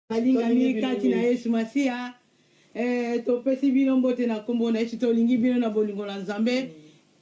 balingami kati na yesu masiya eh, topesi bino mbote na nkombo na yesu tolingi bino na bolingo na nzambe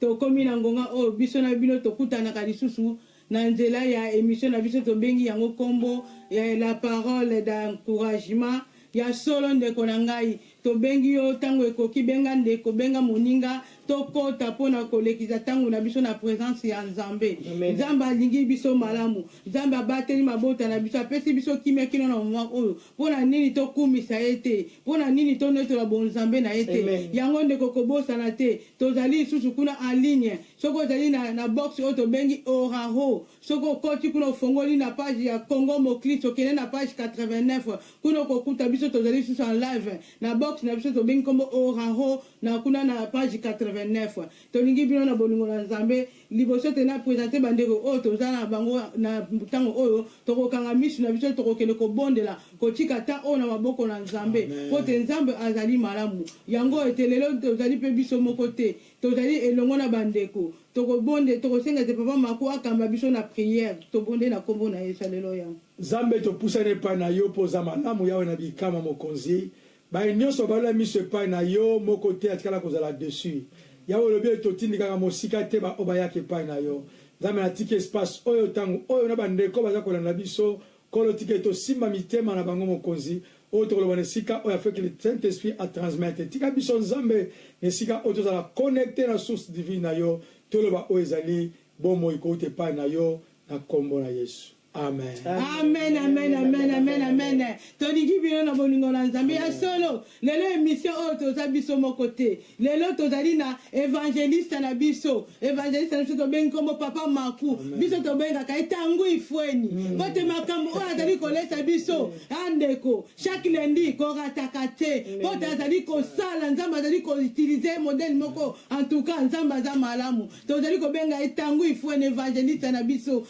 tokomi na ngonga oyo biso na bino tokutanaka lisusu na nzela ya emission na biso tobengi yango nkombo ya la parole d'encouragement ya solo ndeko na ngai Tobengi yo, tango ekoki benga ndeko, benga moninga, tokota mpo na kolekisa tango na biso na presence ya Nzambe. Nzambe alingi biso malamu, Nzambe abateli mabota na biso, apesi biso kimia kino na moment oyo, mpo na nini tokumisa ye te? Mpo na nini tonetola bonzambe na ye te? Yango ndeko kobosana te, tozali lisusu kuna en ligne, soki ozali na, na box oyo tobengi Oraho, soki okoti kuna ofongoli na page ya Congo Moklisto, kende na page 89, Kuna okokuta biso tozali lisusu en live na box na biso tobengi kombo Oraho na kuna na page 89. Tolingi bino na bolingo na Nzambe. Liboso te na presenter bandeko oyo toza na bango na tango oyo, tokokanga misu na biso tokokende kobondela, kotika temps oyo na maboko na Nzambe, mpo te Nzambe azali malamu. Yango ete lelo tozali mpe biso moko te, Tozali elongo na ba ndeko. Tokobonde, tokosenga ete Papa Marco akamba biso na prière. Tobondeli na kombo na Yesu. Alleluia. Nzambe topusani epai na yo po oza malamu Yahwe na bikamwa mokonzi baye nionso balela miso epai na yo moko te atikala kozala deçu Yahwe olobi ete otindikaka mosika te ba oyo bayaka epai na yo Nzambe natiki espace oyo tango oyo na ba ndeko baza kolanda biso Nkolo, tika ete Osimba mitema na bango, Mokonzi, oyo tokoloba na esika oyo afeki le Saint Esprit a transmettre. Tika biso, Nzambe, na esika oyo tozala connecter na source divine na Yo, toloba oyo ezali Bomoi kouta epai na Yo, na Nkombo na Yesu. Amen. Amen, amen, amen, amen, amen. Tolingi bino na bolingo na Nzambe ya solo. Lelo emission oyo toza biso moko te lelo tozali na evangeliste na biso evangeliste na biso tobengi nkombo papa maku biso tobengaka ye tangu ifueni mm. bote makambo oyo azali kolesa biso mm. andeko ah, chaque lundi korataka te bote azali kosala nzambe azali koutilize modele moko en tout cas nzambe aza malamu tozali kobenga ye tangu ifueni evangeliste na biso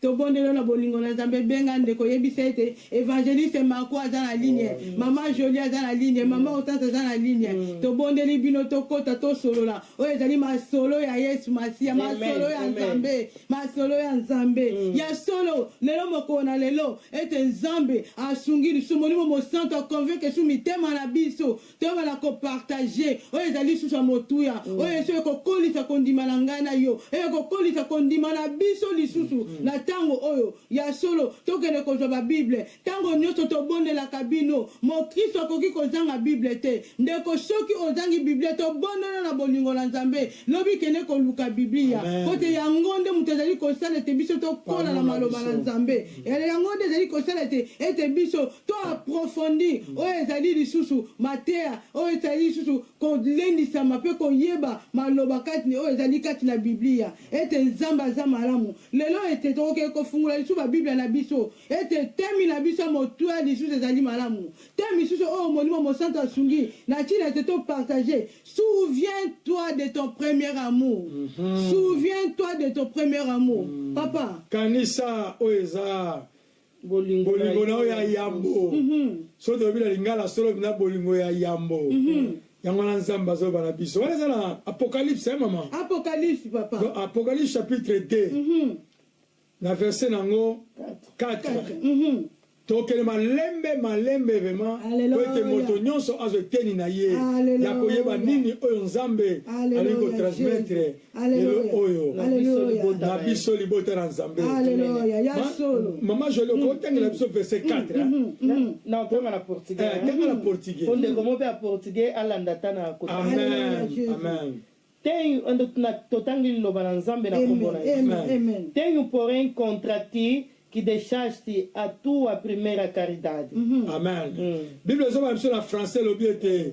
To bondelo na bolingo na nzambe benga ndeko yebisa ete evangeliste marco aza na ligne oh, maman jolie aza na ligne maman otante aza na ligne mm. to bondeli bino to kota to solola oyo ezali masolo ya yesu masiya masolo ya nzambe masolo ya nzambe mm. ya solo lelo mokolo na lelo ete nzambe asungi lisumu molimo mosanto akonveke su mitema na biso ntongo na kopartage oyo ezali lisusu ya motuya mm. oyo eso ekokolisa kondima na ngai na yo eye kokolisa kondima na biso lisusu mm. na ntango oyo ya solo tokende kozwa babible ntango nyonso tobondelaka bino mokristo akoki kozanga bible te ndeko soki ozangi biblia tobondana na bolingo na nzambe lobi kende koluka biblia mpo te yango nde moto ezali kosala ete biso tokola na maloba na nzambe yango nde ezali kosala ete ete biso to aprofondi oyo ezali lisusu mateya oyo ezali lisusu kolendisama mpe koyeba maloba kati oyo ezali kati na Biblia ete Nzambe aza malamu. Lelo ete tokoki kofungola lisusu Babiblia na biso ete temi na biso ya motuya lisusu ezali malamu te, misusu oyo Molimo Mosantu asungi na ntina ete to partager. Souviens-toi de ton premier amour. Souviens-toi de ton premier amour. Papa. Kanisa oyo eza bolingo na yo ya yambo soki tolobi na lingala solo mpenza bolingo ya yambo yango wana nzambe azoloba na biso wana eza na apocalypse eh, mama apocalypse papa Donc, apocalypse chapitre 2 mm -hmm. na verset na yango 4 mhm. tokende malembe malembe vrema po ete moto nyonso azwa eteni na ye ya koyeba nini oyo nzambe alingi kotransmettre lelo oyo na biso libota na nzambe mama joli okoki kotangela biso verse 4 tanga na portugais ondeko mo mpe ya portugais alanda ata na koamen tenho totangi liloba na nzambe na kombo na yesu tenho porém contra ti que deixaste a tua primeira caridade mm -hmm. amen mm. bible ezobana biso na français elobi ete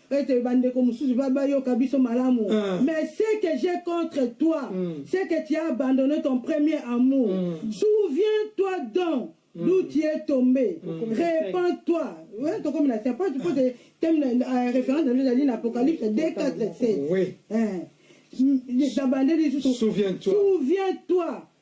ete bandeko mosusu ba bayoka biso malamu Ah. mais ce que j'ai contre toi Mm. c'est que tu as abandonné ton premier amour Mm. souviens toi donc d'où tu es tombé repends toi Ouais, tokomi na c'est pas tu peux te- thème na- na- euh, référence na nde ezali na apocalypse 2 4 7 Oui. Hein. nabandeli lisusu Souviens-toi. souviens-toi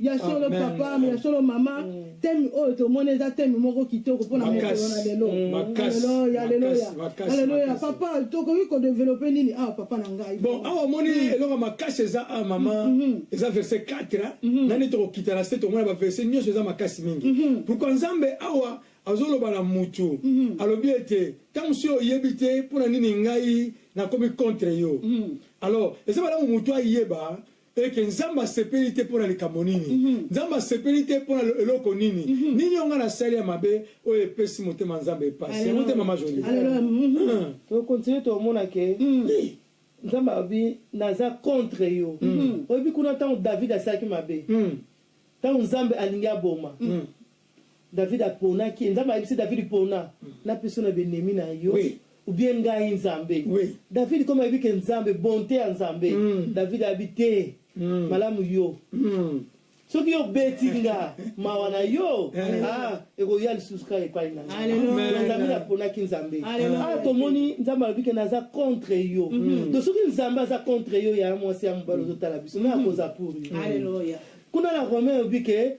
Ya solo Amen. papa, mais ya solo mama, thème oyo tomoni eza thème moko kitoko mpo na mokolo Makasi. na lelo. Mm. Makasi. Haleluya, haleluya. Makasi, makasi, Haleluya. makasi. Papa, tokoki ko développer nini awa papa na ngai? bon awa omoni eloko ya makasi eza a mama eza verset 4 hein? nani tokokita na se tomona baverset nyonso eza makasi mingi pourkui nzambe awa azoloba na mutu alobi ete ntango si oyebi te mpo na nini ngai nakomi contre yo alors eza malamu mutu ayeba et que nzambe asepeli te mpo na likambo nini mm -hmm. nzambe asepeli te mpo na eloko nini mm -hmm. nini onga nasali ya mabe oyo epesi motema nzambe epasi yango te mama joli tokontinue tomona ke nzambe alobi naza contre yo oyebi kuna ntango david asalaki mabe ntango nzambe alingi aboma David aponaki ye. Nzambe ayebisi David pona na pesi yo na b'ennemis na yo Oui. ou bien ngai Nzambe. Oui. David comme ayebi que Nzambe bonte ya Nzambe. David ayabi te malamu yo. Soki yo obeti nga mawa na yo ah ekoya lisusu kaka epai na nga. Alléluia. Donc David aponaki Nzambe. Alléluia. Awa tomoni Nzambe alobi que naza contre yo. Donc soki Nzambe aza contre yo ya mwasi ya mobali ozotala biso nani akoza pour yo. Alléluia. Kuna na Romain alobi que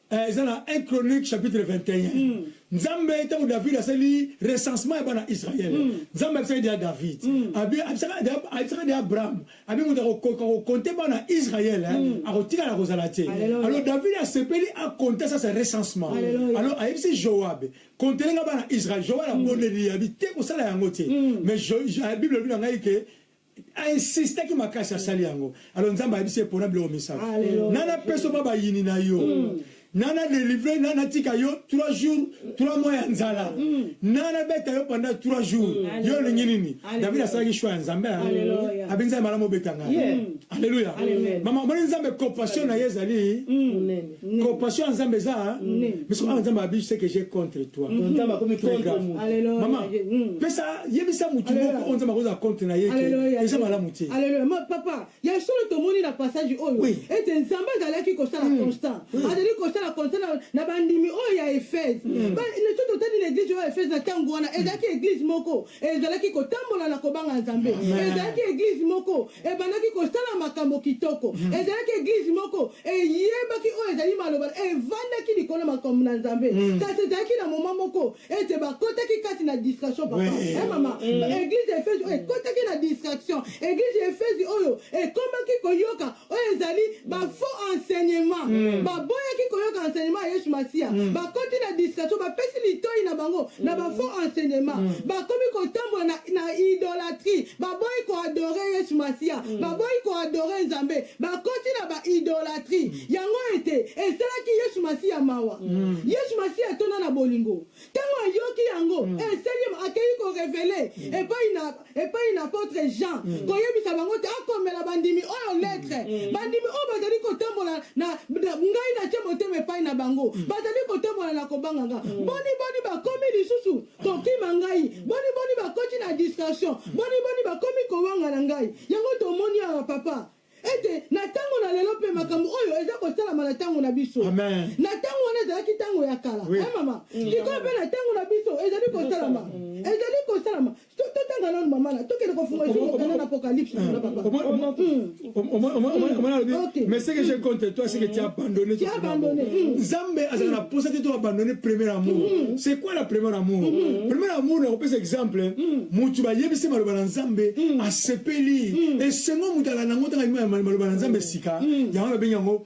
Eh, eza na 1 chronique chapitre 21 mm. nzambe ntango david asali recensement ya bana israele mm. nzambe abisaki deya david mm. abisaka deya abraham abi moto akokoka kokonte bana israele eh, mm. akotikala kozala te alors david asepeli akonte sasa recensement alors ayebisi joabe kontelenga bana israele joabe abondeli mm. abi te kosala yango te mm. mais bible elobi na ngai ke A insistaki makasi asali yango. Alors Nzambe ayebisi ye pona biloko misato. Na na peso ba bayini na yo. Mm. Na na delivre na na tika yo 3 jours, 3 mois ya nzala. Mm. Na na beta yo pendant 3 jours. Mm. Yo lingi nini? David asalaki choix ya Nzambe. Hein? Abenza malamu beta nga. Alléluia. Maman, moni Nzambe compassion na ye ezali. Mm. Compassion ya Nzambe eza biso awa Nzambe abi ce que j'ai contre toi. Donc Nzambe akomi contre mutu. Alléluia. Maman, hmm. pesa yebisa mutu moko oyo Nzambe akozala contre na ye ke eza malamu te. Alléluia. Ma papa, ya solo tomoni na passage oyo oui. ete Nzambe azalaki kosala mm. constant. Oui. Azali kosala constant na, na bandimi oyo ya Efese. Mm. Ba ne tout autant ni l'église oyo Efese na tango wana ezalaki église moko ezalaki kotambola na kobanga Nzambe. Ezalaki église moko Ebandaki kosala makambo kitoko. Ezalaki eglise moko eyebaki oyo ezali maloba, evandaki likolo ya makambo na Nzambe. Kasi ezalaki na moment moko ete bakotaki kati na distraction, papa. Oui. Eh, mama, eglise ya Efezi oyo ekotaki na distraction. Eglise ya Efezi oyo ekomaki koyoka oyo ezali ba faux enseignement. Baboyaki koyoka enseignement ya Yesu Masiya. Bakoti na distraction, bapesi litoyi na bango na ba faux enseignement. Bakomi kotambola na na idolatrie baboyi koadore yesu masiya mm. baboyi koadore nzambe bakoti na baidolatrie mm. yango ete esalaki yesu masiya mawa mm. yesu masiya atona na bolingo ntango ayoki yango mm. esali akei korevele mm. epai na epai na apotre jean mm. koyebisa bango te akomela bandimi oyo mm. letre mm. bandimi oyo bazali kotambola na ngai natye motema epai na bango mm. bazali kotambola na kobanganga mm. boni boni bakomi lisusu Tokima ngai. Boni boni bakoti na distraction. Boni boni bakomi kowangana ngai. Yango tomoni awa papa. ete na ntango na lelo mpe makambo oyo eza kosalama na ntango na biso na ntango wana ezalaki ntango ya kala oui. mama mm. sikoyo mpe na ntango na biso ezali kosalama mm. ezali kosalama totanga nano mamana tokende kofunga esuokana na apokalypse na mm. papa omona alobi mais ce que j'ai contre toi c'est que tu as abandonné tu as abandonné mm. nzambe azala na posa te to abandonné premier amour mm. c'est quoi la premier amour mm. premier amour na kopesa exemple mutu bayebisi maloba na nzambe asepeli esengo mutu alanda yango ntanga maloba na nzambe sika yango babengi yango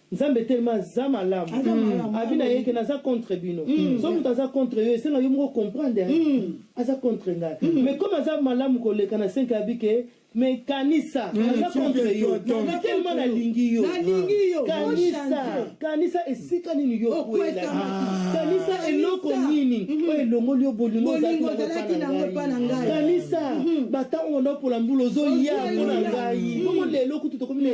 Nzambe tellement aza malamu. Aza malamu. Abi na ye ke naza contre bino. So moto aza contre yo esenga yo moko comprendre hein. Aza contre ngai. Mais comme aza malamu koleka na senka abi ke mais kanisa aza contre yo. Mais tellement nalingi yo. Nalingi yo. Kanisa kanisa esika nini yo okwela. Kanisa eloko nini oyo elongoli yo bolingo Bolingo ozalaki na yango epai na ngai. Kanisa batango onapola mbula ozoya mpo na ngai. Bongo lelo kutu tokomi na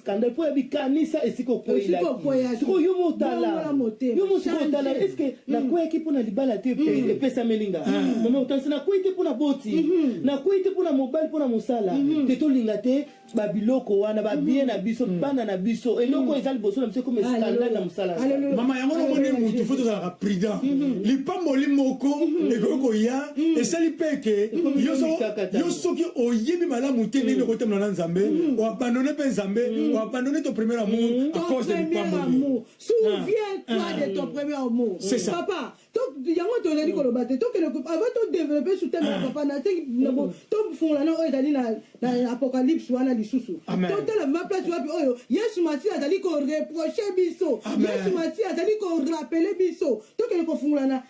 kanda mpo ya bikanisa esika okweilakisikoyo yo motala yo mosika otala eske mm. nakweyaki mpo na libala te mm. epesameli nga mm. mama otanisi nakwei te mpo na boti mm-hmm. nakwei te mpo na mobali mpo na mosala mm-hmm. te tolinga te babiloko wana babie mm-hmm. na biso bana na biso eloko eza liboso na biso ekoma eskandale na mosala mama yango namoni motu fo tozalaka prudent lipamboli moko ekoki koya mm. esali mpe eke yo soki oyebi malamu te ndenge mm. okotemela na nzambe mm. oabandone mpe nzambe oabandone to premier amour à cause de lipamboli souviens-toi ah. de ton premier amour papa yango tozali koloba te tokende avant todeveloppe sur teme ya ah. papa nasengi tofungola na oyo ezali na apocalypse wana lisusu totala ma place wapi oyo yesu masiya azali koreproche biso yesu masiya azali korapele biso tokende kofungolana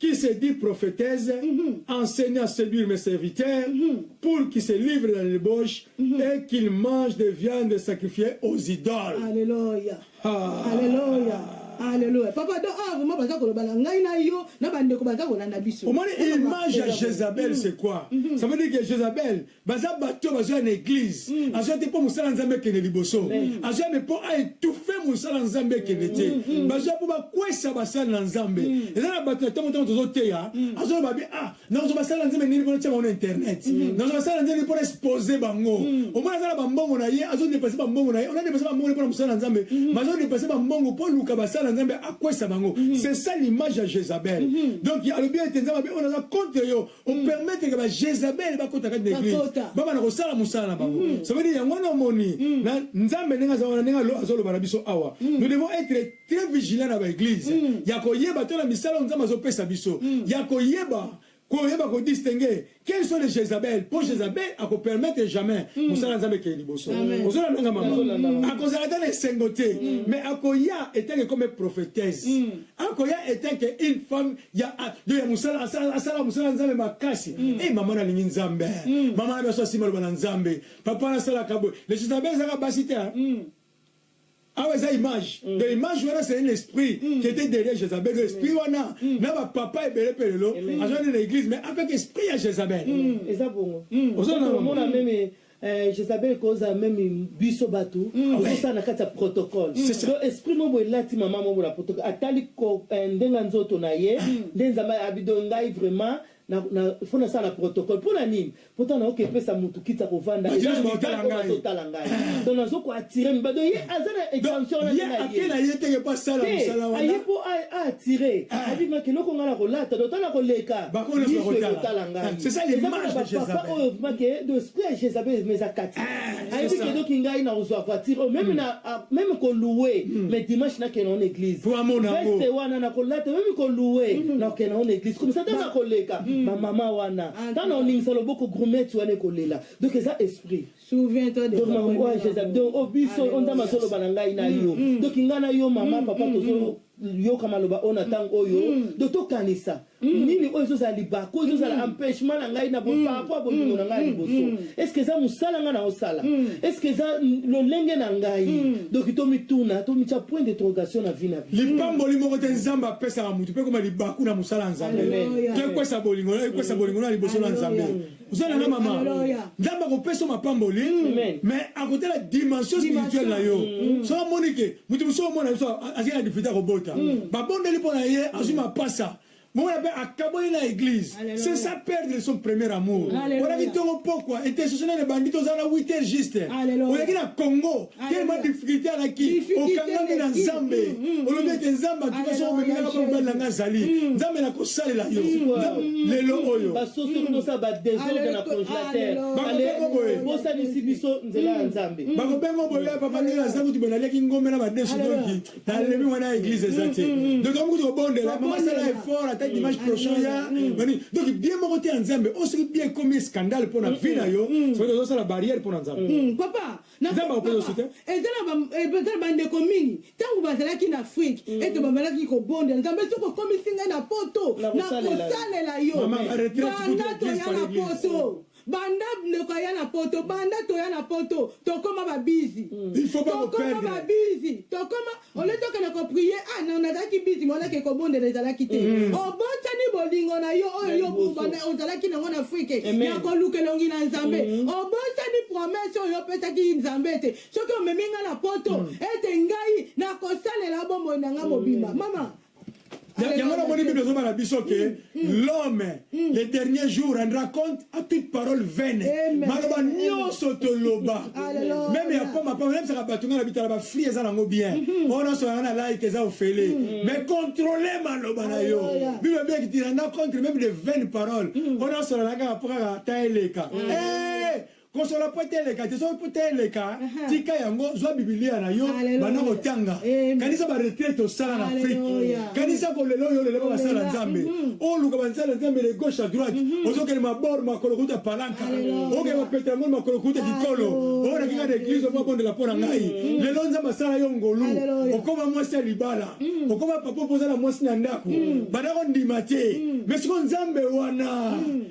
qui se dit prophetese enseigne à seduire mes serviteurs pour qu'ils se livrent dans les debauches et qu'ils mangent des viandes sacrifiées aux idoles. Alléluia. Ah. Alléluia. Alléluia. Papa do ah vraiment baza koloba na ngai na yo na bandeko baza kolanda biso. Omoni image ya Jezabel c'est quoi? Ça veut dire que Jezabel baza bato bazoya na eglise mm. azoya te mpo mosala nzambe ekende liboso mm. azoya me mpo aetufe mosala nzambe ekende te mm. mm. bazoya mpo bakwesa basali na nzambe mm. eza na bato na ntango ntango tozoteya mm. azoloba be ah nazo basala na nzambe nini mpona tia bango na internet mm. nazo basala na nzambe mpona expose bango mm. omona aza na bambongo na ye azodepase bambongo na ye ona depase bambongo mpona mosala na nzambe mm. bazodepase bambongo mpo luka basala na nzambe akwesa bango mm. c'est ça l'image ya jezabel mm. donc alobi ete nzambe abe oyo naza contre yo o permettre que ba Jezabel ba kota kati na église ba bana ko sala musala na bango mm. ça veut dire yango na moni mm. na nzambe ndenge aza wana ndenge azo loba na biso awa mm. nous devons être très vigilants na ba église ya ko yeba to na misala nzambe azo pesa biso ya ko yeba koyeba kodistingue quels sont les jezabel mpo jezabel akopermettre jamais mosala ya nzambe ekeye liboso ozona ndanga mama akozala ata na esengo te mais akoya etanke comme prophétese akoya etanke une femme ya ah, yo ya musala asala asala musala nzambe makasi mm. eh mama nalingi nzambe mm. mama na biso asima loba na nzambe papa nasalaka boye lesitabe ezaka basi te hein. mm. awa eza image mm. de image wana c'est un esprit mm. qui était derrière Jézabel de esprit mm. wana mm. na ba papa ebele pe lelo azwani na église mais avec esprit ya Jézabel mm. eza bongo ozomona meme Eh, Jezabel koza meme biso batu mm. kosa na kati ya protocole mm. donc esprit moko elati mama moko na protocole atali eh, ndenge nzoto na ye mm. nde nzambe abido ngai vraiment fo nasala protocole mpo na nini mpo ta nayoki epesa motu kiti ya kovanda azotala ngai don nazo koatire miba don ye aza na extension wana aye mpo aatire abimaki eloko ngai na kolata don ta na koleka miso ekotala ngai c'est ça l'image de Jezabel oyo vraiment que de esprit ya Jezabel mais akati ah, ayebi que donc ngai na ozwa voiture oh, même hmm. na ah, même ko louer hmm. mais dimanche na kena en église pour amona ngo veste wana na ko lata même ko louer hmm. na kena en église comme ça tanga ko leka ma maman wana ah, tana oningisa loboko grumette wana ko lela donc eza esprit donc makambo oyo jesus donc oyo biso oyo nzambe azoloba na ngai na yo donc ngai na yo mama papa tozoyoka maloba oyo na ntango oyo donc tokanisa nini oyo ezozala libaku oyo ezozala empêchement na ngai na boparapo ya bolingo na ngai ya liboso estce eza mosala ngai naosala estce eza lolenge na ngai donc tomituna tomitya point d'interrogation na vie na bi lipamboli moko te nzambe apesaka moto mpe koma libaku na mosala ya nzambe to ekwesa bolingo na liboso na nzambe oza na nga mama Hallelujah. nzambe akopesa mapamboli Amen. mais akotala dimension spirituelle na yo so amoni ke moto mosusu omona biso azali na difite akobota babondeli mpo na ye azwi mapasa mona mpe akaboli na église Alléluia. c'est ça perdre son premier amour Alléluia. olaki ntongo pokwa intercessionnaire ebandi tozala na 8 heures juste Alléluia. oleki na congo telema difficulté alaki okangami na nzambe mm, mm, mm. olobi ete nzambe atuka soko omemelaka mpo mobali na ngai azali nzambe nakosalela yo lelo oyo bakobengo boye papa ndenge aza kuti bwena aliaki ngombe na badesu donki nalemi mwana ya eglise eza te donc yango kuti kobondela mamasala effort ata dimanche prochain ya donc bien moko te ya nzambe oyo soki bien ekomi scandale mpo na vie na yo soki tozosala barrière mpo na nzambe papa Nzambe akoki kosuta. Ezala bandeko mingi ntango bazalaki na Afrique mm. ete bamalaki kobondela Nzambe soki okomisi ngai na poto nakosalela yo banda toya na poto banda ndeko aya na poto banda toya na poto tokoma babizi mm. tokoma babizi tokoma ole tokende koprie ah non nazalaki bizi monake kobondela ezalaki te mm. obotani bolingo na yo oyo yo ozalaki nango na afrike ya koluka elongi na nzambe mm. obotani promese oyo opesaki nzambe ete soki omemi ngai na poto mm. ete ngai nakosalela bomoi na ngai mobimba mama yango namoni bible ezoba na biso ke mm, mm. l'homme mm. le dernier jour rendra compte à toute parole vaine maloba nyonso toloba meme ya poma poma nayebisaka bato ngai na bitala bafri eza nango bien mm-hmm. oyo nyonso yanga na like eza ofele mais controle maloba na yo bible ebiyaki ti renda compte meme de vaine parole oyo nyonso nalalaka mpo kaka ta eleka eh! Kosola pwete eleka te soki pwete eleka tika yango zwa bibilia na yo banda kotanga kanisa baretraite osala na afrike kanisa kolela oyo olela basala nzambe mhm. oluka bansala nzambe le gauche à droite mhm. ozokende mabor makolo kuta palanka okende bapeta yango makolo kuta kikolo oyo nakinga na eglise omo abondela mpo na ngai mhm. lelo nzambe asala yo ngolu okoma mwasi ya libala okoma papa mpo oza na mwasi na ndako banda kondima te me siko nzambe wana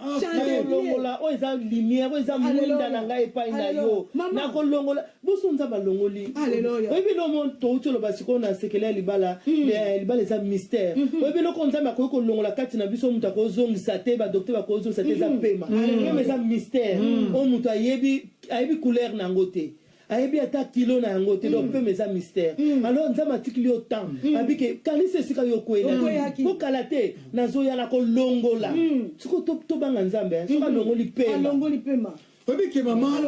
nakolongola oyo eza lumière oyo eza mwinda na ngai epai na yo nakolongola boso nzambe alongoli oyebi eloko touti oloba sikoyo na sekele ya libala hmm. eh, libala eza mystère hmm. oyebi eloko nzambe akoki kolongola kati na biso moto akozongisa te badoktere bakozongisa te eza hmm. pema pema eza mystère oyo moto ayebi ayebi couleur na yango te ayebi ata kilo na yango te donc pema eza mystère alors nzambe atikili yo temps abi ke kanisa esika yo okweyaki po kala te nazoya na kolongola siko tobanga nzambe hein. soki alongoli pema oyebi ke mama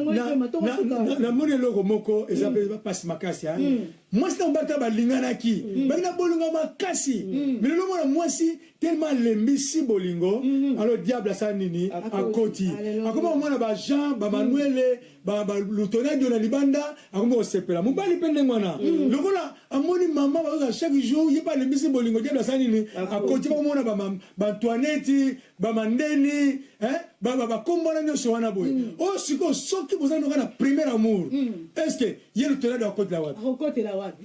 namoni eloko moko eza mpe mpasi makasi mwasi na mobali ta balinganaki mm. baki na bolingo makasi mm. mais lelo mwana mwasi tellement alembisi bolingo mm-hmm. alors diable asala nini akoti akoma komona bajean bamanuele mm. ba ba lutona dio na libanda akomi kosepela mobali mpe ndenge wana mm. lokola amoni mama bazoza chaque jour ye mpe alembisi bolingo diable asala nini akoti bakomona baantoineti bamandeni bakombo wana nyonso wana boye mm. oyo oh, sikoyo soki boza noka na premier amour mm. est ce que ye lutona dio akotela wapi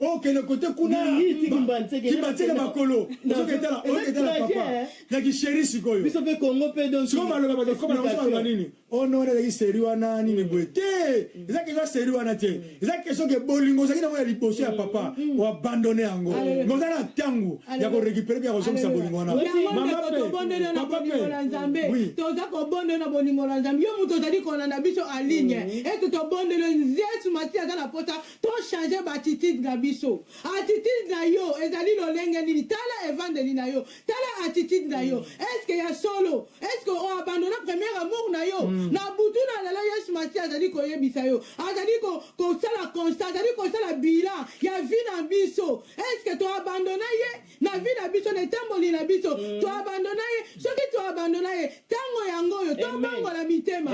okende kote kuna kibatika makolo ozoketala oyoketala papa na kisheri sikoyo biso mpe kongo mpe donsiko maloba bakakoma na kosomaloba nini ono wana ezalaki seri wana nini boye te eza keza seri wana te eza kestion ke bolingo ozalaki nango ya liboso ya papa oabandone yango me oza na ntango ya korekipere mpe ya kozongisa bolingo wana papa mpe toza kobondela na bolingo na nzambe yo moto ozali kolanda biso aligne ete tobondele yesu masi aza na pota To changer ba attitude na biso. Attitude na yo ezali lolenge nini? Tala evandeli na yo. Tala attitude na yo. Est ce que ya solo? Est ce que o abandonna premier amour na yo? Na butu na lelo Yesu Masiya azali koyebisa yo. Azali ko, kosala constat, azali kosala bilan ya vie na biso. Est ce que to abandonna ye? na vie na biso na etamboli na biso to abandona ye soki to abandona ye ntango yango oyo tobongola mitema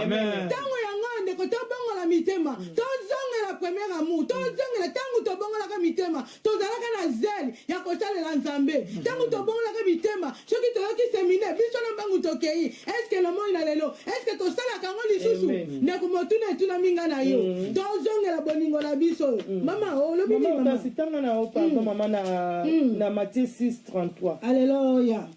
ntango yango oyo ndeko tobongola mitema tozongela premier amour tozongela ntango tobongolaka mitema tozalaka na zele ya kosalela nzambe ntango tobongolaka mitema soki toyoki semine biso na mbangu tokei eske na moi na lelo eske tosalaka yango lisusu ndeko motuna etunami nga na yo mm. tozongela bolingo na biso oyo mm. mama olobi nini mama kasi tanga na yo pardon mm. mama na mm. na Matthieu 6:33 Alléluia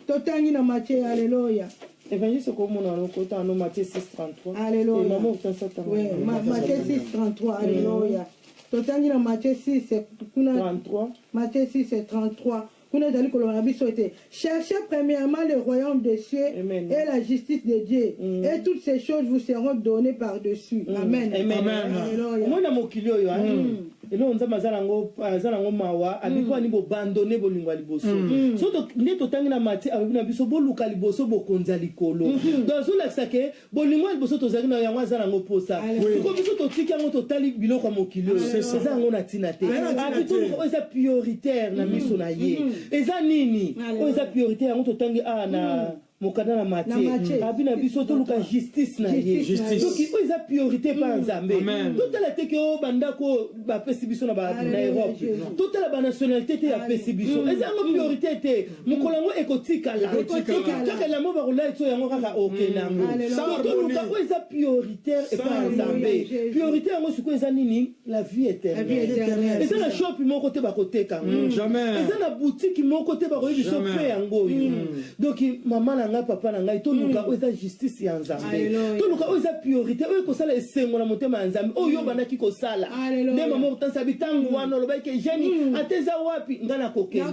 totangi na Matthieu Alléluia évangile okomona lokota no Matthieu 6:33 Alléluia eh, mama otasa tanga oui Matthieu 6:33 Alléluia totangi na Matthieu 6 kuna 33 Matthieu 6:33 Kuna ezali koloba na biso ete cherchez premièrement le royaume des cieux Amen. et la justice de Dieu mm. et toutes ces choses vous seront données par dessus. Mm. Amen. Amen. Amen. Amen. Omona mokili oyo hein? mm. eloko nzambe aza nango aza nango mawa abiki wani mm. bobandone bolingo ya liboso mm. Mm. so nde totangi na mati alobi na biso boluka liboso bokonzi ya likolo mm-hmm. donc azolakisa ke Bolingo ya liboso tozalaki na yango aza na yango mposa siko biso totiki yango totali biloko ya mokili oyo eza yango na ntina te abitoluka oyo eza prioritaire na miso na ye eza nini oyo eza prioritaire yango totangi awa na mokanda na matie abi na biso toluka justice na ye soki oyo eza priorité mpa nzambe totala te ke o bandako oyo bapesi biso na europe totala banationalité te yapesi biso eza yango priorité te mokolo yango ekotikala kaka elamo bakolai so yango kaka okenda yango mm. toluka oyo eza prioritaire epai ya nzambe priorité yango sikoyo eza nini la vie éternelle eza na shopi moko te bakoteka yango mm. eza na butiki moko te bakoyi biso mpe yango oyo mm. donc mama na ngai papa na ngai toluka oyo eza justice ya nzambe toluka oyo eza priorité oyo ekosala esengo na motema ya nzambe oyo yo obandaki kosala nde mama okotanisa bitango wana olobaki ke jeni ata eza wapi ngai nakokenda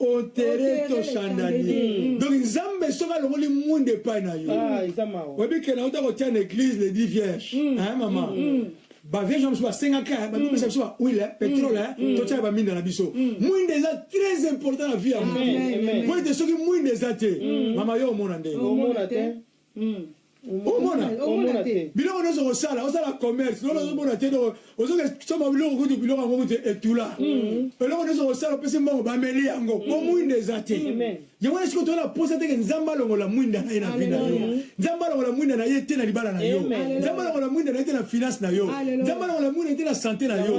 au terrain to chandanie mm. donc nzambe soki alongoli mwinda epai na yo ah, oyebi kena uta kotia na église le dit vierge mm. mama mm, mm. bavierge ya mosusu basengaka babimisa biso bahuile petrole totyaka baminda na biso mwinda eza très important na vie ya moto mpo ete soki mwinda eza te mama yo omona ndenge Hmm. omona omona te biloko nyonso kosala osala commerce lolo ozomona te donc ozokesoma biloko kutu biloko yango kutu etula mm. eloko nyonso kosala opesi mbongo bameli yango po mm. mwinda eza te yango wana sikoyo toyona posa teke nzambe alongola mwinda na ye na vi na yo nzambe alongola mwinda na ye te na libala na yo nzambe alongola mwinda na ye te na finance na yo nzambe alongola mwinda na ye te na sante na yo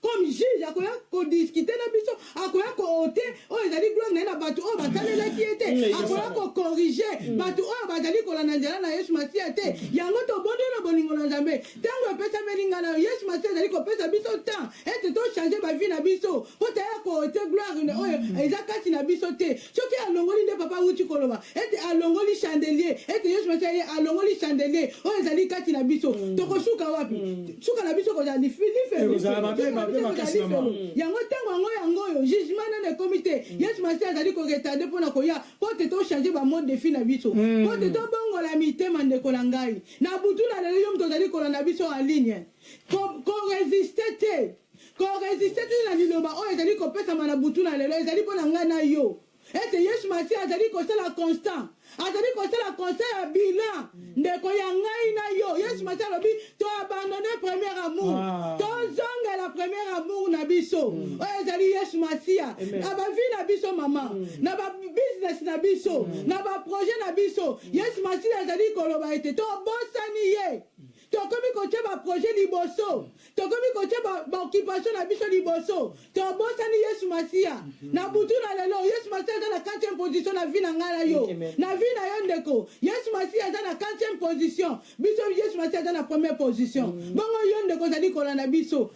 comme juge akoya kodiscute na biso akoya koote oyo ezali gloire na ye na bato oyo batalelaki ye te mm, akoya kokorige mm. bato oyo bazali kolanda nzela na yesu masiya te yango tobondi na bolingo na nzambe ntango epesameli ngai nayo yesu masiya ezali kopesa biso temps ete tochange bavi na biso mpo taya koote gloire oyo mm. eza kati na biso te soki alongoli nde papa awuti koloba ete alongoli chandelier ete yesu masia ye alongoli chandelier oyo ezali kati na biso mm. tokosuka wapi mm. suka na biso kozala lifelifelifelifelo yango ntango yango yango oyo jugement nano ekomi te mm. yesu masia azali koretade mpo na koya mpo te tochange bamode defi na biso mpo te tobongola mitema ndeko na ngai na butu na lelo yo moto ozali kolanda biso en ligne koresiste te Ko resister te na liloba oyo ezali kopesama na butu na lelo ezali mpo na ngai na yo ete Yesu Masiya azali kosala constant, azali kosala constant ya bilan ndeko ya ngai na yo. Yesu Masiya alobi to abandonne premier amour, ah. tozongela premier amour na biso mm. oyo ezali Yesu Masiya na bavi na biso mama, mm. na ba business na biso, mm. na ba projet na biso. Yesu Masiya azali koloba ete tobosani ye. tokomi kotia ba projet liboso tokomi kotia baoccupation na biso liboso tobosani yesu masiya mhm. na butu na lelo yesu masiya aza na 4 position na vie na ngai na yo na vie na yo ndeko yesu masiya aza na 4 position biso yesu masiya aza na première position mhm. bongo yo ndeko ozali kolanda biso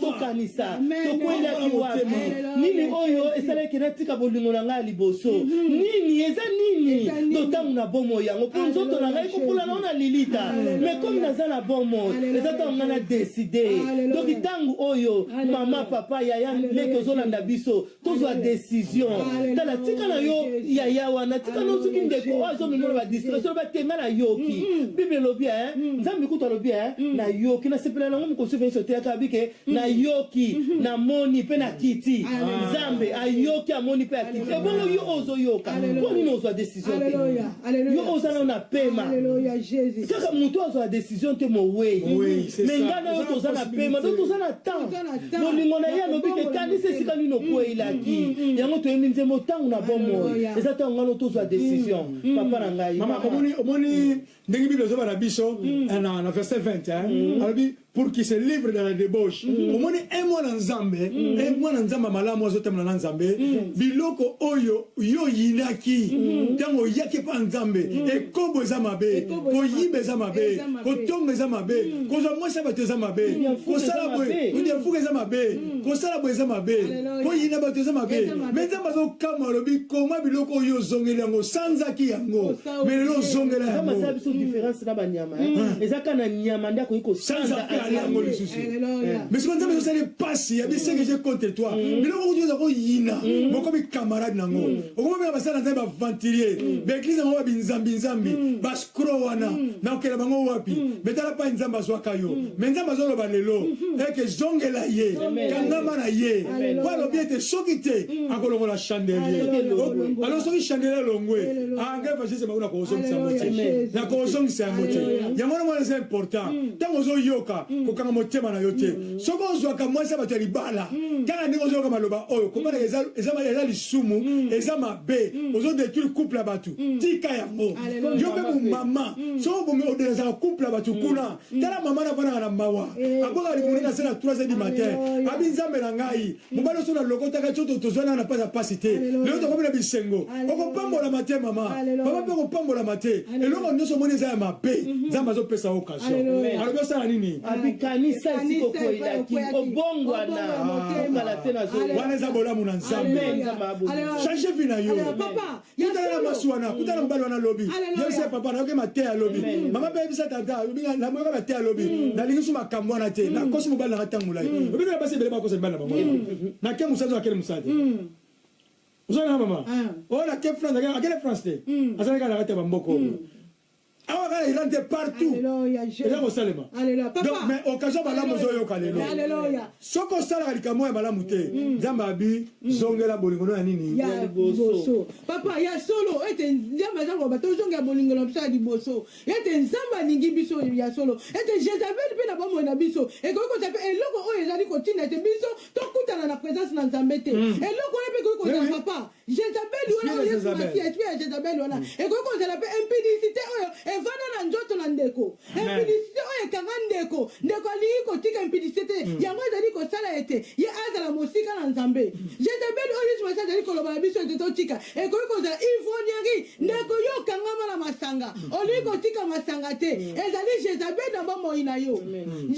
tokanisa tokwelaki wapi nini oyo esalaki natika bolingo na ngai ya liboso mhm. nini eza nini to ntango na bomoi yango mpo nzoto na ngai kopola nao na lilita me komi naza na bomoi eza ntango ngai na deside doki ntango oyo mama papa yaya leki ozolanda biso tozwa decision tala tika na yo yaya wana tika na soki ndeko oyo azomimona badistraction loba te ngai nayoki bible elobi nzambe kutu alobi nayoki nasepela nango mokosufi nyonso teyaka abi ke nayoki namoni mpe nakiti nzambe ayoki amoni mpe akiti ebongo yo ozoyoka mpo nini ozwa decision te yo oza nao na pema kaka motu azwa decision te mowei me ngai na yo toza na pema to toza na temps bolingo na ye alobi ke ekanisi esika nini okweyilaki mm, mm, mm, yango toyebi nzembo ntango na bomoi eza ntango ngano tozwa decision papa na ngai omoni ndenge bible ezoba na biso eh, na verset 20 eh? alobi pour qu'il se livre dans la débauche mm. omoni un mwana nzambe mm. un mwana nzambe malamu azotambola na nzambe mm. biloko oyo yo oyinaki ntango oyaki epai ya nzambe ekobo eza mabe koyiba eza mabe kotonga eza mabe kozwa mwasi ya bato eza mabe kosala boye kodefuka eza mabe kosala boye eza mabe koyina bato eza mabe me nzambe azokamwa alobi koma biloko oyo ozongeli yango osanzaki yango mais lelo ozongela yango kama za biso différence na banyama eh. hmm. eza kaka na nyama nde akoki kosanza mpe ali yango lisusu mais soki nzambe ezosala mpasi ya bisenge je contre toi hmm. biloko kutu oza koyina hmm. bokomi camarade na yango okomi bena basala nzambe baventurier baeglise yango babinzambinzambi bascro wana na kokela bango wapi mais tala pai nzambe azwaka yo mais nzambe azoloba lelo eke zongela ye kangama na ye po alobi ete soki te akolongola chandelier alo soki chandelier elongwe ah ngai evangeliste bango nakozongisa yango te nakozongisa yango te yango na mwana eza important mm. ntango ozoyoka mm. kokanga motema na yo te mm. soki ozwaka mwasi ya bato ya libala kaka ndenge ozoyoka maloba oyo kobalaka eza lisumu eza mabe ozodetruire couple ya bato tika yango yo mpe momama soki obomi odelesaka couple ya bato kuna tala mama nafandaka na mawa eh, abwaka libumu na se na 3 heures du matin abi nzambe na ngai mobali oso nalokotaka tio tozwa nanga na mpasi ya mpasi te lelo tokomi na bisengo okopambolama te mama mama mpe okopambolama te eloko nyonso omoni eza ya mabe mhm. nzambe azopesa yo occasion alobi osala nini abikanisa esika okoyelaki obongwana wana eza bolamu na nzambe change vi na yo Ye tala na mwasi wana, kuta na mobali wana lobi. Yebisa papa na yoke mateya lobi. Mama pe yebisa tata, lobi na moyoka mateya lobi. Mm. Na lingi su makambo wana te. Na mm. kosi mobali na tangu lai. Mm. Lobi na basi bele ba kosa mibali na bango. Na ke musazo akele musadi. Uzana mama. Ah. Ona oh, ke France akele France te. Azana kana kata bamboko. awa kaka iran te partout eza kosalema donc mais occasion malamu ozoyoka lelo soki osalaka likambo ya malamu te mm. nzambe abi mm. zongela bolingo no ya nini ya liboso papa ya solo ete nzambe aza koloba tozongela bolingo na biso ya liboso ete nzambe alingi biso ya solo ete jezabel mpe na bomoi na biso ekoki kozala mpe eloko oyo ezali kotinda ete biso tokutana na présence na nzambe te mm. eloko oyo mpe ekoki kozala papa Jezabeli wana oyo Yesu Masiya, esprit ya Jezabeli wana mm. ekoki kozala mpe impudicité oyo evanda na nzoto na ndeko, impudicité oyo ekanga ndeko. Ndeko alingi kotika impudicité te, mm. yango ezali kosala ete ye azala mosika na Nzambe. Mm. Jezabeli oyo Yesu Masiya azali koloba na biso ete totika ekoki kozala ivrognerie, ndeko yo okangama na masanga, olingi kotika masanga te, ezali Jezabeli na bomoi na yo.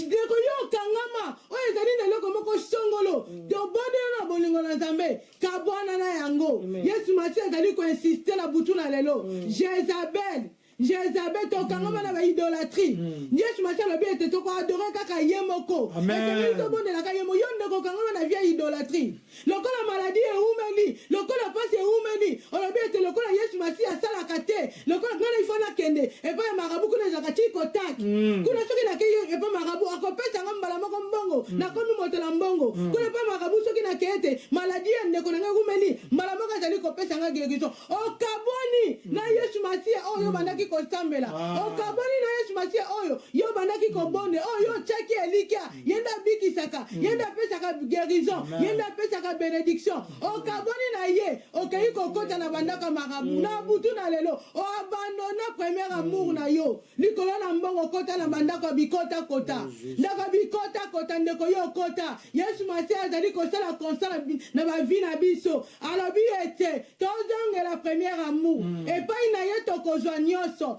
Ndeko yo okangama oyo ezali na eloko moko songolo, tobondela na bolingo na Nzambe. kabwana na yango yesu masiya azali koinsiste na butu na lelo mm. jezabel jezabel tokangama mm. na baidolatrie mm. yesu masiya alobi ete tokoadore kaka ye moko etengeli tobondelaka ye moko yo nde kokangama na vie idolatrie lokola maladi eumeli lokola mpasi eumeli olobi ete lokola yesu masiya asalaka te lokola nga na ifo nakende epai ya marabu kuna ezalaka ti kotaki mm. kuna soki nakei epai marabu akopesa nga mbala moko mbongo mm. nakomi moto na mbongo mm. kuna epai marabu soki nakei te maladi ya ndeko na ngai ekumeli mbala moko azali kopesa nga guérison okaboni mm. na yesu masiya oyo yo mm. bandaki kosambela ah. okaboni na yesu masiya oyo yo bandaki kobonde oyo yo otyaki elikya mm. ye nde abikisaka ye nde apesaka guérison ye nde apesaka benediction okabwani na ye okei kokota na bandako ya marabu na butu na lelo oabandona premier amour na yo likolo na mbongo okota na bandako ya bikota kota ndako ya bikota kota ndeko yo okota yesu masiya azali kosala konsala na bavi na biso alobi ete tozongela premier amour epai na ye tokozwa nyonso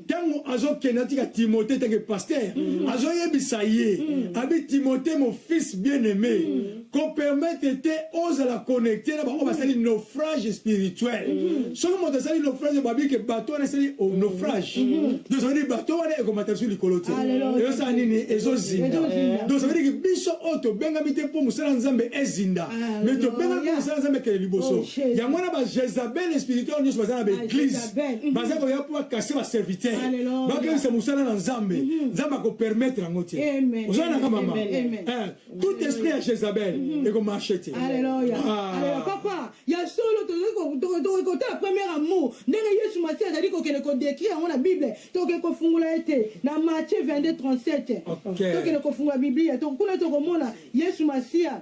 ntango azokende atika timote etake paster mm. azoyebisa ye mm. abi timote mon fils bien aimé mm. kopermetre te ozala connecte na bango basali mm. naufrage spirituel mm. soki moto asali naufrage babike bato wana esali oh, naufrage mm. dosavadiki bato wana ekomata biso likolo te ezosala nini ezozinda dosavadiki biso oyo tobengami te mpo mosala nzambe ezinda me tobengami mpo mosala nzambe ekele liboso oh, yango wana bajezabel spirituel nyonso baza na baeglise Mhm. baza koya mpo bakase baserviteur bakebisa mosala na nzambe mhm. nzambe akopermettre yango te oza nanga mama eh, tout esprit ya jezabel mhm. ekomarche te ah. papa ya solo tokoki kotala premier amour ndenge yesu masi azali kokende kodekri yango na bible tokoki kofungola ye te na matie 22 37 tokende kofungola biblia kuna tokomona yesu masiya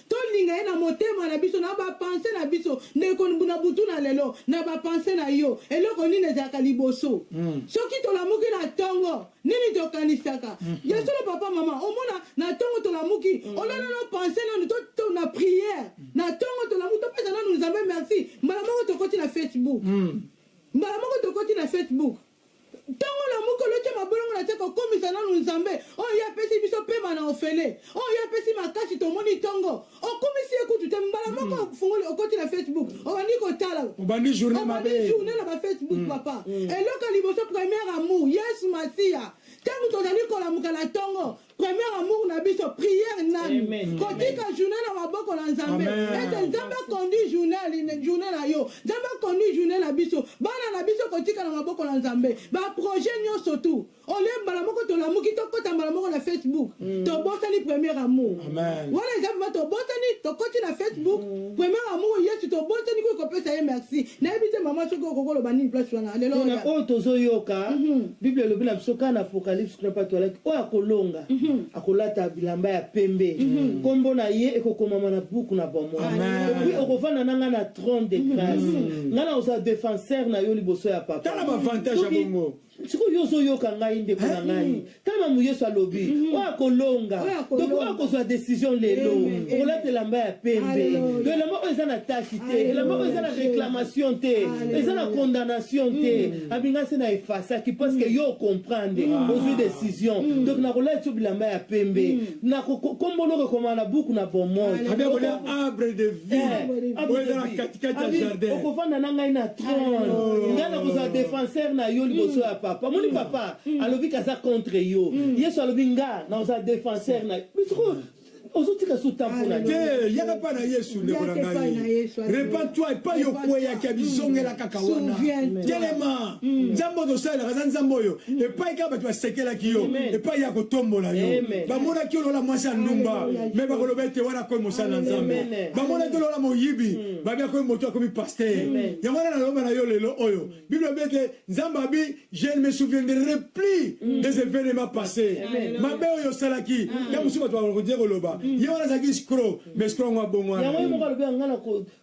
Tolinga ye na motema na biso, na ba pensees na biso. Ndeko na butu na lelo, na ba pensees na yo, eloko nini ezalaka liboso? Soki tolamuki na tongo, nini tokanisaka? Ya solo papa, maman, omona na tongo tolamuki, olala nano pense nanu to, to na prière. Na tongo tolamuki, topesa nanu Nzambe merci, mbala moko tokoti na Facebook. Mbala moko tokoti na Facebook. Ntongo na moke oloti ya mabolongo na se kokomisa nanu Nzambe oyo ye apesi biso pema na ofele oyo ye apesi makasi tomoni ntongo okumisi ye kutu te mbala moko ofungoli okoti na Facebook obandi kotala Obandi journee mabe. obandi journee na ba Facebook papa eloko ya liboso première amour Yesu Masiya ntango tozali kolamuka na ntongo Premier amour na biso prière nanu kotika journée na maboko na Nzambe ete Nzambe akondi journée journée na yo Nzambe akondi journée na biso bana na biso kotika na maboko na Nzambe ba projet nyonso tout ole mbala moko tolamuki tokota mbala moko na Facebook mm. tobosani premier amour wana eza bima tobosani tokoti na Facebook mm. premier amour Yesu tobosani kuyi kopesa ye merci Nayebi te maman soki okoki oloba nini place wana lelo. Pona oh, oyo tozo yoka mhm. Bible elobi na biso kana apocalypse kuna patu alaki oyo akolonga mhm. akolata bilamba ya pembe mhm. kombo na ye ekokomama na buku na bomoi epuis okovanda na ngai na trône de grâce ngai na ozala defenseur na yo liboso ya papa. Tala ba avantage ya bongo. sikoyo yo ozoyoka ngai ndeko na ngai mm. ta mamu yesu alobi mm. oyo akolonga donc oyo akozwa décision lelo okolata elamba ya pembe to elamba oyo eza na tashi te elamba oyo eza na réclamation te eza na condamnation te mm. abinga se na efasaki parce que yo ocomprendre ozwi décision donc nakolati yo bilamba ya pembe nakokomboloko ekoma na buku na bomoi okofanda na ngai na trone oh. ngai nakozala defenseur na yo liboso ya papa moni mm. papa mm. alobi kaza contre yo mm. yesu alobi nga nakozala defenseur na yo ozotika so tampola te yaka mpa na yesu ndeko na ngai repentoi epai okweyaki abizongela kaka wana telema mm. nzambe oyo tosalelaka aza nzambe oyo mm. epai kaka bato basekelaki yo epai ya kotombola yo bamonaki yo lola mwasi ya ndumba me bakoloba ete wana akomi mosala na nzambe bamona te lola moyibi hmm. babi akomi moto akomi paster yango wana naloba na yo lelo oyo bible abi ete nzambe abi je ne me souviendrai plus hmm. des événements passés mabe oyo osalaki hmm. ya mosusu bato bakodia koloba ye wana azalaki scro mais scro yango abongwana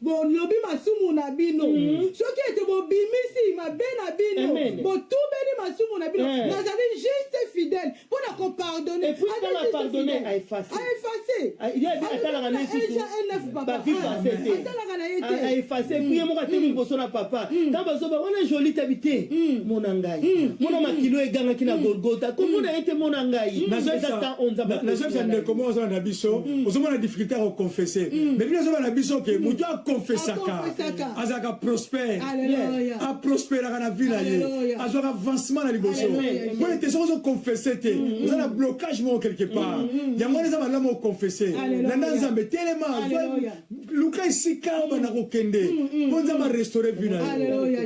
bolobi masumu na bino mm. soki ete bobimisi mabe na bino botubeli masumu na bino eh. nazali juste fidèle mpo na kopardonne aeffaseatalaka na ye te ye moko atelemi liboso na papa ntango bazoba wana joli tabi te mona ngai hmm. mona makilo egangaki na golgota komona ye te mona ngai eza temps oyo nzambe nazobisa ndeko moko azala na biso ozomona difficulté ya koconfesse mais bino azobala na biso ke moto aconfessaka azalaka prospère aprosperaka na vie na ye azwaka avancement na liboso mpo ete soki ozoconfesse te oza na blocage moko quelque part yango wana eza malamu oconfesse landa nzambe telema luka esika oyo banda kokende mpo mm, mm, mm. nzambe arestore vi na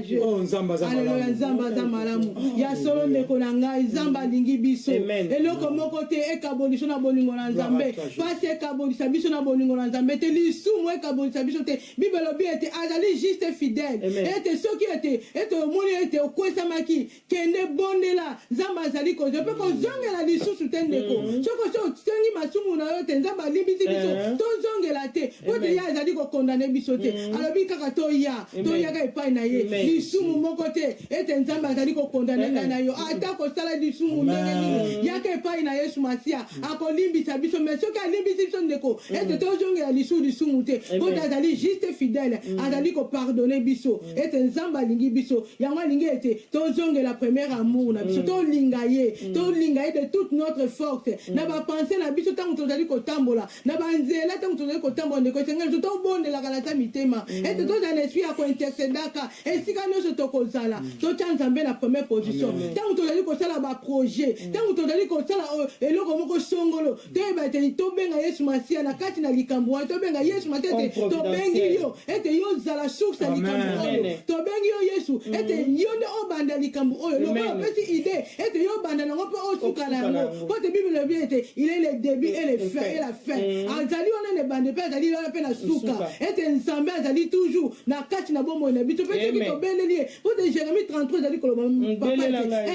yo oh, nzambe aza malamu nzambe aza malamu oh, ya solo ndeko na ngai nzambe alingi biso eloko moko te ekabolisa na bolingo na nzambe mpasi ekabolisa biso na bolingo na nzambe te lisumu ekabolisa biso te bible elobi ete azali juste fidèle ete soki ete ete omoni ete okwesamaki Kende bondela Nzambe azali kozwa mpe kozongela lisusu te ndeko. Mm. Soki osi osengi masumu na yo te Nzambe alimbisi biso eh. tozongela te mpo te ye azali kokondane biso te. Mm. Alobi kaka toya toyaka epai na ye lisumu moko te ete Nzambe azali kokondane eh. ngai na yo ata kosala lisumu ndenge nini yaka epai na Yesu Masiya mm. akolimbisa biso me soki alimbisi biso ndeko ete tozongela lisusu lisumu te mpo te azali juste fidèle azali kopardone biso. ete nzambe alingi biso yango alingi ete tozongela premier amour na biso mm. tolinga ye mm. tolinga ye de toute notre force mm. na bapense na biso ntango tozali kotambola na banzela ntango tozali kotambola ndeko esengeli to tobondelaka na ta mitema ete tozala na esprit ya kointercedaka esika nyonso tokozala totya nzambe na première position ntango tozali kosala baprojet ntango tozali kosala oh, eloko moko songolo toyeba ete tobenga yesu masiya na kati na likambo wana tobenga yesu masiya ete tobengi yo ete yo ozala source ya likambo oyo tobengi yo yesu mm. ete yo nde obanda likambo oyo lokola opesi ide ete yo obanda nango mpe osuka na yango mpo te bible elobi ete il est le début et le fin et la fin mm. azali wana na ebande mpe azali wana mpe na suka ete nzambe azali toujours na kati na bomoi na biso mpe soki tobeleli ye Tout de Jérémie 33 ezali koloba papa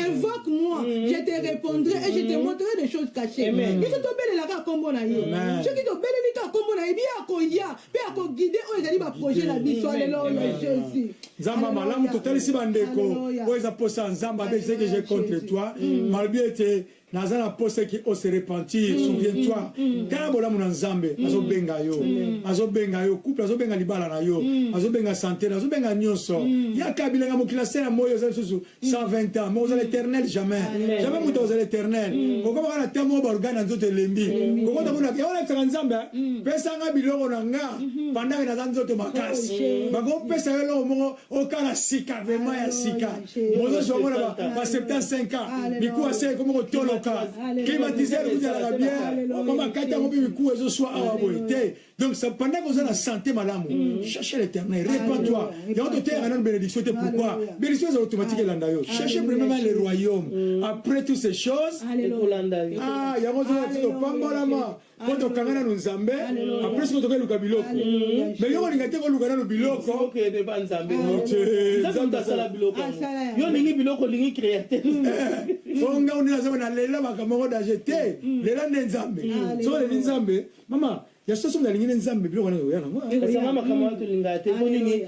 invoque moi mm-hmm. je te répondrai et je te mm-hmm. montrerai des choses cachées biso tobelelaka nkombo na ye soki tobeleli kaka nkombo na ye biye akoya mpe akoguide oyo ezali baprojet na biso aleloya jésus nzambe ya malamu totalisi bandeko oyo eza mposa ya nzambe abe ezeki je contre toi mm. malobi ete naza na posa ki o se repentir mm, souviens toi mm, mm. tala bolamu na nzambe mm. azobenga yo mm. azobenga yo couple azobenga libala na yo mm. azobenga sante na azobenga nyonso mm. yaka bilanga mokili na se na moi oza lisusu 120 ans mais ozala mm. éternel jamais Amen. jamais moto ozala éternel mm. okomaka na ntango oyo baorgane na nzoto elembi mm. kokota kuna yango nayebisaka nzambe mm. pesanga biloko na nga mm -hmm. pandake naza nzoto makasi oh, bakopesa yo eloko moko okala sika vraiment ya sika mozosi omona ba 75 ans mikuwa se ekomi kotoloka climatiseur kuzalaka bien okoma kati yango mpe mikuwa ezoswa awa boye te donc ça pendant que oza na santé malamu mm. cherche l'éternel répands-toi yango toteyaka nano bénédiction te pourquoi bénédiction eza automatique elanda yo cherche premièrement le royaume mm. après toutes ces choses ah yango ozaa topambolama mpo tokanga nanu nzambe apres siko toke luka biloko me yo kolinga te koluka nanu biloko yo olingi biloko olingi créateur o nga onde nazaba na lela makambo yango danger te mm. lela nde nzambe soko leli nzambe mama ya soso nalingi nde nzambe biloko wana oya nango esanga makambo wana tolingaka te mpo nini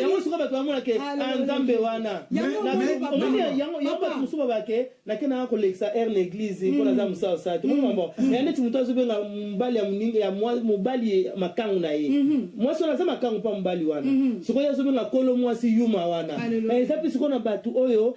yango suka bato bamonake nzambe wana yango bato mosusu babake nake nanga kolekisa aire na eglize mpo naza mosala osala tomokambo ya neti moto azobenga mobali ya moninga ya mobali makango na ye mwasi wana aza makango mpa mobali wana sikoyo azobenga kolo mwasi yuma wana eza mpe sikoyo na bato oyo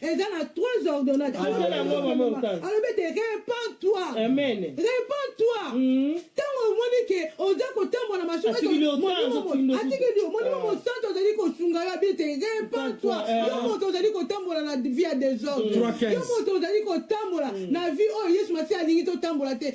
eza na trois ordonnade alobi ete repend toi repend toi ntango hmm. omoni ke oza kotambola na masuatikeli yo molimo mosanto ozali kosunga yo abi ete repend toi eh. yo moto ozali kotambola na vie ya desordre yo moto ozali kotambola hmm. na vie oyo yesu masiya alingi totambola te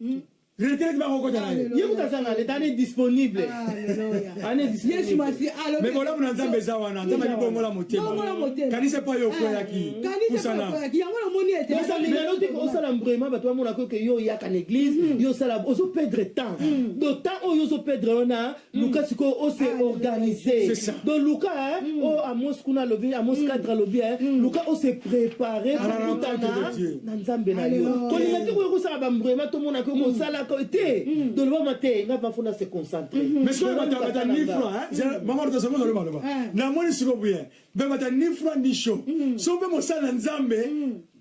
Hmm. retraite bakokota na ye ye kutu aza na leta ane disponible yesu masi alobi bolamu na nzambe eza wana nzambe alibongola motema kanisa epai yo okweyaki pusana yango namoni eteosalingano te osala mbrema bato bamonaka oke yo oyaka na église yo osala ozo perdre temps do temps oyo ozo perdre wana luka mm. sikoyo ose ah, organise donc luka eh, mm. oyo oh, amos kuna alobi amos mm. cadre alobi eh, luka ose prépare kokutana ah, na nzambe na yo kolinga te koya kosala bambrema tomonaka yo mosalaka te donc lobama te nga bafona se concentre mm-hmm. mais soki batabata ni froid eh, mama totasongo na lobaloba namoni sikoyo boye bamata ni froid ni chaud so mpe mosala na nzambe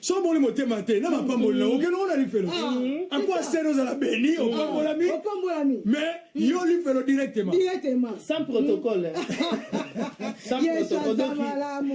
soki obongoli motema te na mapamboli na okende ngo na lifelo ah. akwa sene ozala beni opambolami mais yo lifelo directement sans protocole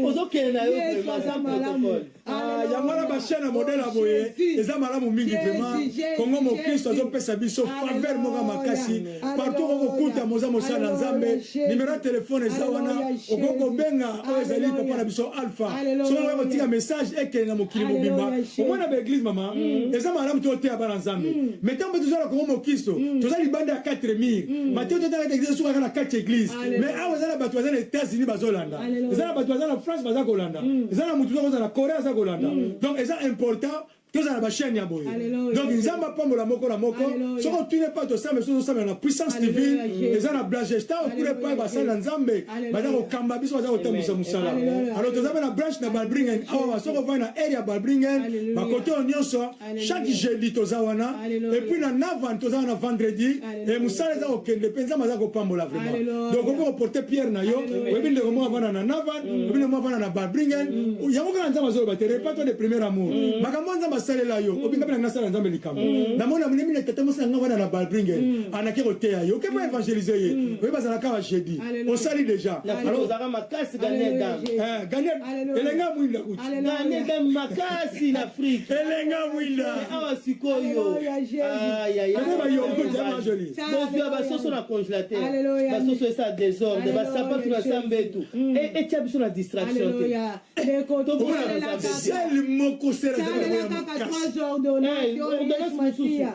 ozokende na yo protocole ah, yango wana bachaine ya modele ya boye eza malamu mingi vraiment kongo mokristo azopesa biso faveur moko makasi partout okokuta moza mosala na nzambe nimero ya telefone eza wana okoki kobenga oyo ezali papa na biso alpha soki okoki kotika message ekende na mokili mobimba omona baeglise mama mm. eza malamu te oteya bana nzambe mm. me ntango mpe tozala kongo mokisto mm. toza libanda ya 4 mire mateo totalaka eglise esukaka na 4 eglise me awa eza na bato baza na états-unis bazolanda eza na bato baza na france baza kolanda eza na motu tokozala na corée aza kolanda donc eza important tozala ba chaîne ya boye donc nzambe apambola moko na moko soki otuni epai tosala biso tosamela na puissance divine eza na blagesta okuna epai basali na nzambe baza kokamba biso baza kotambwisa mosala alors toza mpe na branche na balbringen awa soki ovai na aire ya balbringen bakote oyo nyonso chaque jeudi toza wana epuis na navan toza wana vendredi Eh, musala eza kokende mpe nzambe aza kopambola vraiment donc okoki koporte pierre na yo oyebi ndeko moko avanda na navan mm. oyebi ndeko moko avanda na babringen mm. yango kaka nzambe azoloba te repas toi de premier amour mm. makambo nzambe asalela yo obingapi na nasala nzambe likambo namoni na monemi na tata mosi na ngai avanda na babringen anaki koteya yo okepa évangélise ye oyebi azala kaka jeudi osali déjà alors ozaka makasi ganie dame eh, elenge ya mwinda kutinganede makasi na afrike elenge ya mwinda awa sikoyo bozwa basoso na congelateur basoso esa desordre basapatu na sambetu hmm. e, etya biso na distraction te tokosalaka sel moko selaordonance mosusu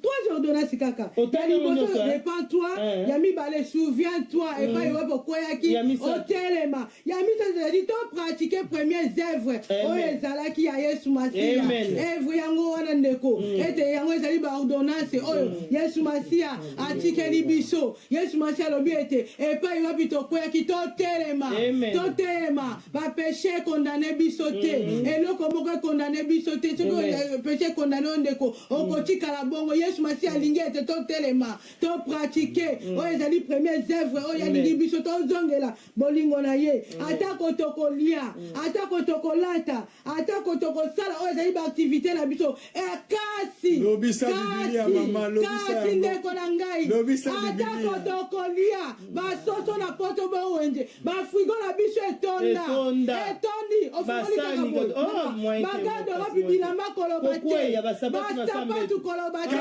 trois ordonnance kaka liboso repent toi eh. ya mibale souviens toi mm. epai wapi okweyaki otelema ya misato ezali to pratique premiers œuvres oyo ezalaki ya yesu masiya evre yango wana ndeko mm. ete yango ezali baordonnance oyo mm. yesu masiya atikeli biso yesu masiya alobi ete epai wapi tokweyaki totelema totelema Ba peche condamne biso te. Mm. Eloko moko e condamne biso te. Soki euh, peche condamne yo ndeko, mm. okotikala bongo. Yesu Masiya mm. alingi ete totelema, to pratique oyo ezali premier œuvre oyo alingi biso tozongela bolingo na ye. Atako tokolia, atako tokolata, atako tokosala oyo ezali baaktivite na biso eh, kasi kasi ndeko na ngai atako tokolia basoso na poto bowenje bafrigo na biso etonda etondi ofikolikakabagado oh, wapi bilamba koloba te basapatu koloba te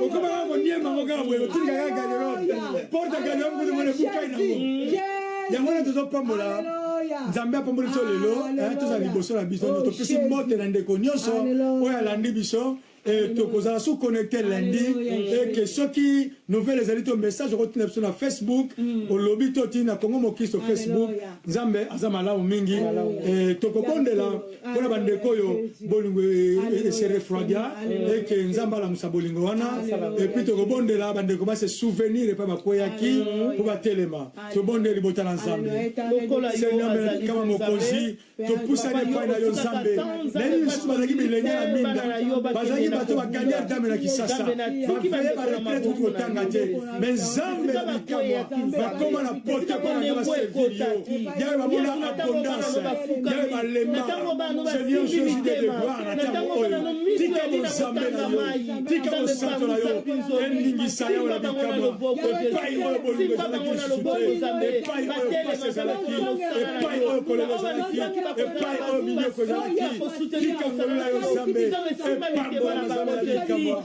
okomaka koniema ngo kaka boye otinda kaka garderobe porte garderobe kutu mona bukai na ngo yango wana tozopambola nzambe apamboli biso lelo eh, tozala liboso na biso oh, topesi mbote na ndeko nyonso oyo alandi biso eh, tokozala sous connecte lundi eke soki nouvelle ezali to message okotina biso na facebook mm. olobi to tii na congo mokristo facebook nzambe aza malamu mingi eh, tokobondela mpo na bandeko oyo bolingo ese refroidia eke nzambe alamusa bolingo wana epui tokobondela bandeko base souvenir epai bakweyaki mpo batelema tobondeli libota na nzambe senyamekama mokonzi topusani epai na yo nzambe nayebi misusu bazalaki bilenge na minda bazalaki bato baganiar dame na kisasa baveye baretraite kuti kotanga te me nzambe ya bikamwa bakoma na poto epai na baservir yo yawe bamona abondance yawe balema seigneur jésus de devoir na ntango oyo tika bonzambe na yo tika bosanto na yo endingisa yawe na bikamwa epai oyo bolingo ezalaki lisusu te epai oyo pasi ezalaki epai oyo kolelo ezalaki epai oyo minyoko ezalaki tika ngolu na yo nzambe epambola na nzambe na bikamwa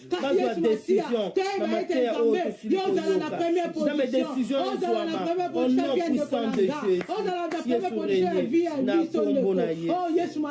bazwa decision na mateya oyo tosili koyokazame decision ezwama au nom puissant de jésus yesu rene na kombo na yesu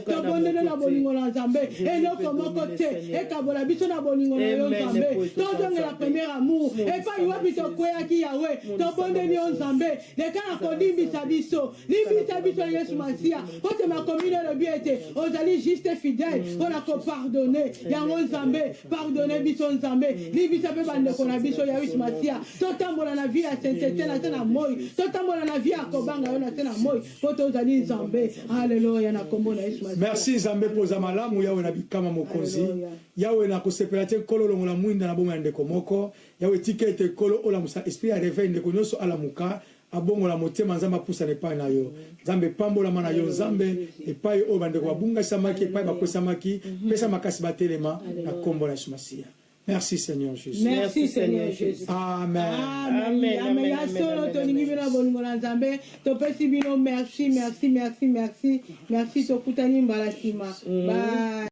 tobondeli na bolingo na nzambe eloko moko te ekabola biso na bolingo na yo nzambe tozongela premier amour epai wapi tokweyaki yawe tobondeli yo nzambe leka na kolimbisa biso limbisa biso yesu masiya kote makomi nalobi ete ozali juste fidèle mpo mm. na kopardone yango nzambe pardone biso nzambe limbisa mpe bandeko na biso ya yesu masiya totambola na vie ya sensete na se na moi totambola na vie ya kobanga yo na se na moi mpo tozali nzambe aleluya na kombo na yesu masiya merci nzambe mpo oza malamu yawe na bikama mokonzi yawe na kosepela te nkolo longola mwinda na bomoi ya ndeko moko Yahweh tika ete nkolo olamusa esprit ya reveil ndeko nioso alamuka abongola motema nzambe apusana epai na yo nzambe pambolama na yo nzambe epai oyo bandeko babungasamaki epai bakwesamaki pesa makasi batelema na nkombo na yesu masiya merci seigneur jesus Merci Seigneur Jesus. amen Amen, Amen, amen, amen, ya solo amen, tolingi amen. bino na bolingo na nzambe topesi bino merci merci merci merci merci tokutani mbala nsima Bye.